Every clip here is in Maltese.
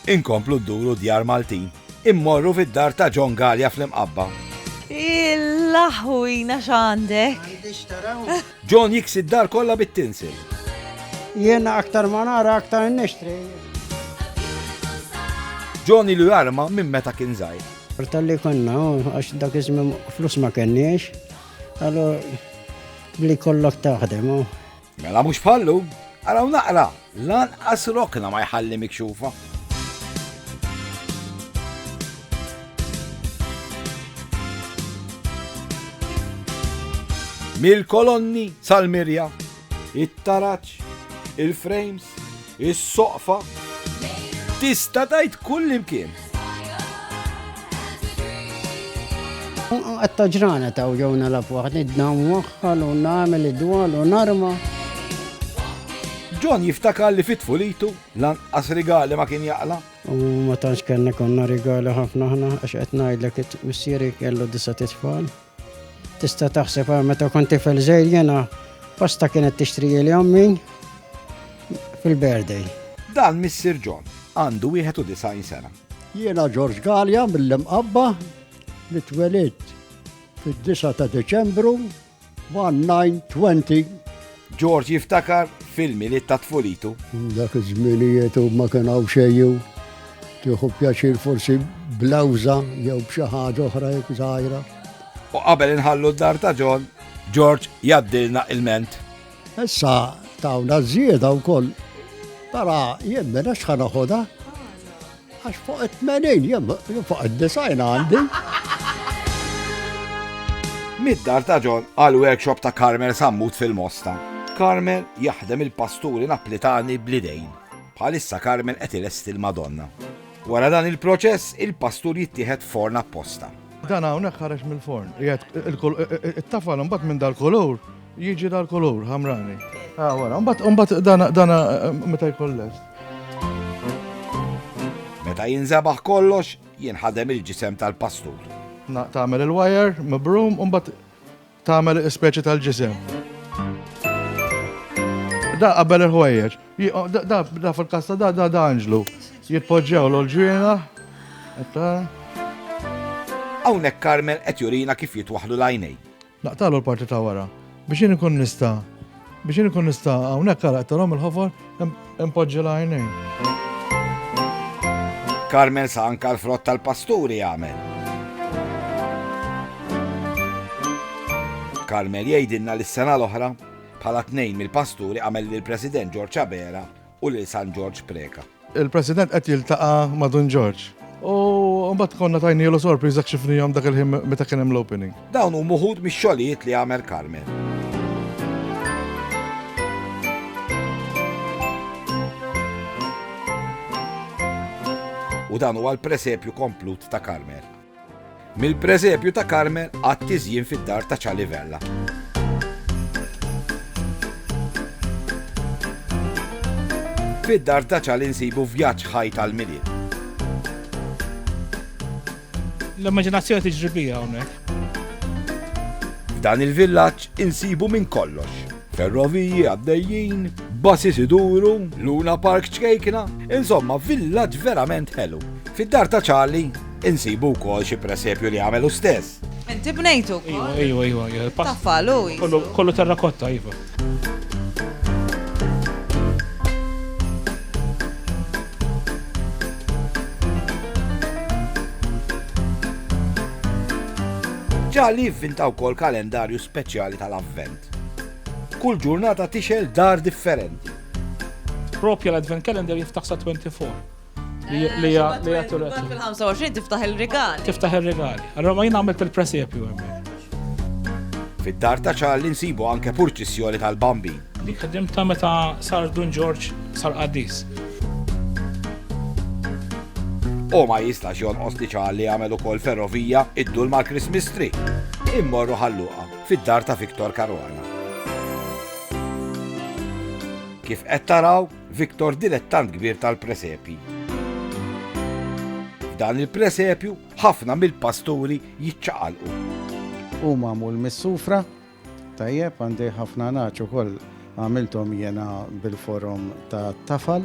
Inkomplu dduru djar Maltin. Immorru fid-dar ta' John Gallia fl-Imqabba. Il-laħwina x'għandek? John jiksi d-dar kollha bit-tinsil. Jiena aktar ma nara aktar nixtri. John ilu jarma minn meta kien żgħir. Tal-li konna, għax dak iżmim flus ma kenniex, għallu li kollok taħdem. Mela mhux bħallu, araw naqra, lanqas rokna ma jħalli mikxufa. Mil kolonni sal-mirja, it-taraċ, il-frames, is-soqfa. Tista' tgħid kull imkien. Għatta ġrana ta' uġawna la fuħt, id-dam waħħal u namel id-dwal u narma. John jiftakar li fit fulitu lanqas rigali ma kien jaqla. U ma tantx kellna konna rigali ħafna ħna għax qed ngħidlek missieri kellu disa' titfal. Tista' taħseb għal meta kont tifel żgħir jena pasta kienet tixtri li ommi fil-birthday. Dan Missir John għandu 91 sena. Jiena George Gallia mill-imqabba li twelid fid-9 ta' Deċembru 1920 George jiftakar fil-Milied ta' tfulitu. Dak iż-żminijiet u ma kien hawn xejju. Tieħu pjaċir forsi blawża jew b'xi ħaġa oħra jekk żgħira. U qabel inħallu d-dar ta' John, George jaddilna il-ment. Issa tawna żieda wkoll. Tara, jien minn x'ħa naħodha? Għax fuq it-tmenin, jem, fuq id-design għandi. Mid-dar ta' John għal workshop ta' Carmel Sammut fil-Mosta. Carmel jaħdem il-pasturi naplitani blidejn. Bħalissa Carmel qed ilesti l-Madonna. Wara dan il-proċess, il-pastur jittieħed forn apposta. Dan hawnhekk ħareġ mill-forn. It-tafal imbagħad minn dal-kolur Jiġi dal-kulur ħamrani. Ah, wara, mbagħad dana dana meta jkun lest. Meta jinżabaħ kollox, jinħadem il-ġisem tal-pastur. Tagħmel il-wire, mibrum, u mbagħad tagħmel speċi tal-ġisem. Da qabel il-ħwejjeġ. Da fil-kasta da da da anġlu. Jitpoġġew l-ġwina. Hawnhekk Carmel qed jurina kif jitwaħlu l-għajnej. Naqtagħlu l-parti ta' wara biex jien inkun nista' biex jien inkun nista' hawnhekk ara qed il-ħofar impoġġi l-għajnejn. Carmel sa anka l-frott tal-pasturi għamel. Carmel jgħidilna li s-sena l-oħra bħala tnejn mill-pasturi għamel lill-President George Abela u lil San Ġorġ Preca. Il-President qed jiltaqa' ma' Dun Ġorġ. U mbagħad konna tajnielu sorpriża kxifnihom dak il-ħin meta kien hemm l-opening. Dawn huma wħud mix-xogħlijiet li għamel Carmen. U dan huwa l-presepju komplut ta' Carmen. Mill-Preżepju ta' Karmel għat-tiżjin fid-dar ta' Ċali Vella. Fid-dar ta' Ċali nsibu vjaġġ ħaj tal-Milied. L-immaġinazzjoni tiġri bija hawnhekk. F'dan il-villaġġ insibu minn kollox. Ferroviji għaddejjin, basis iduru, Luna Park ċkejkna, insomma villaġġ verament ħelu. Fid-dar ta' Ċali Insibu wkoll xi presepju li għamel hu stess. Inti bnejtu. Iva, iva, iva, iva. Taffalu. Kollu terrakotta, iva. Ġalli jivvinta wkoll kalendarju speċjali tal-avvent. Kull ġurnata tixel dar differenti. Propja l-advent calendar jiftaħ sa 24. Li eh, li ja li ja turet. Fil-25 tiftaħ il-rigali. Tiftaħ il-rigali. Allora ma jina għamilt il-presepju għemmek. Fid-dar ta' ċarli nsibu anke purċissjoni tal-bambi. Li kħeddim ta' meta sar Dun Ġorġ sar qaddis. U ma jistax jonqos li ċarli għamel ukoll ferrovija id-dul mal-Christmas tree. Immorru ħalluqa fid-dar ta' Viktor Karwana. Kif qed taraw, Victor dilettant kbir tal-presepji. F'dan il-presepju ħafna mill-pasturi jiċċaqalqu. U mamu l-missufra, tajjeb għandi ħafna naċ ukoll għamiltom jena bil-forum ta' tafal.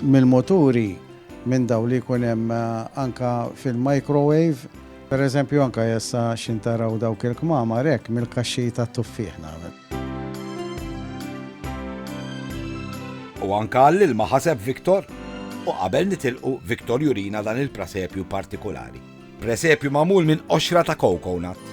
Mil-moturi minn daw li kunem eh, anka fil-microwave Per eżempju anka jessa xintaraw dawk il-kmamar hekk mill-kaxxi tat-tuffieħ nagħmel. U anka għall-ilma ħaseb Victor? U qabel nitilqu, Victor jurina dan il-prasepju partikulari. Presepju magħmul minn qoxra ta' coconut.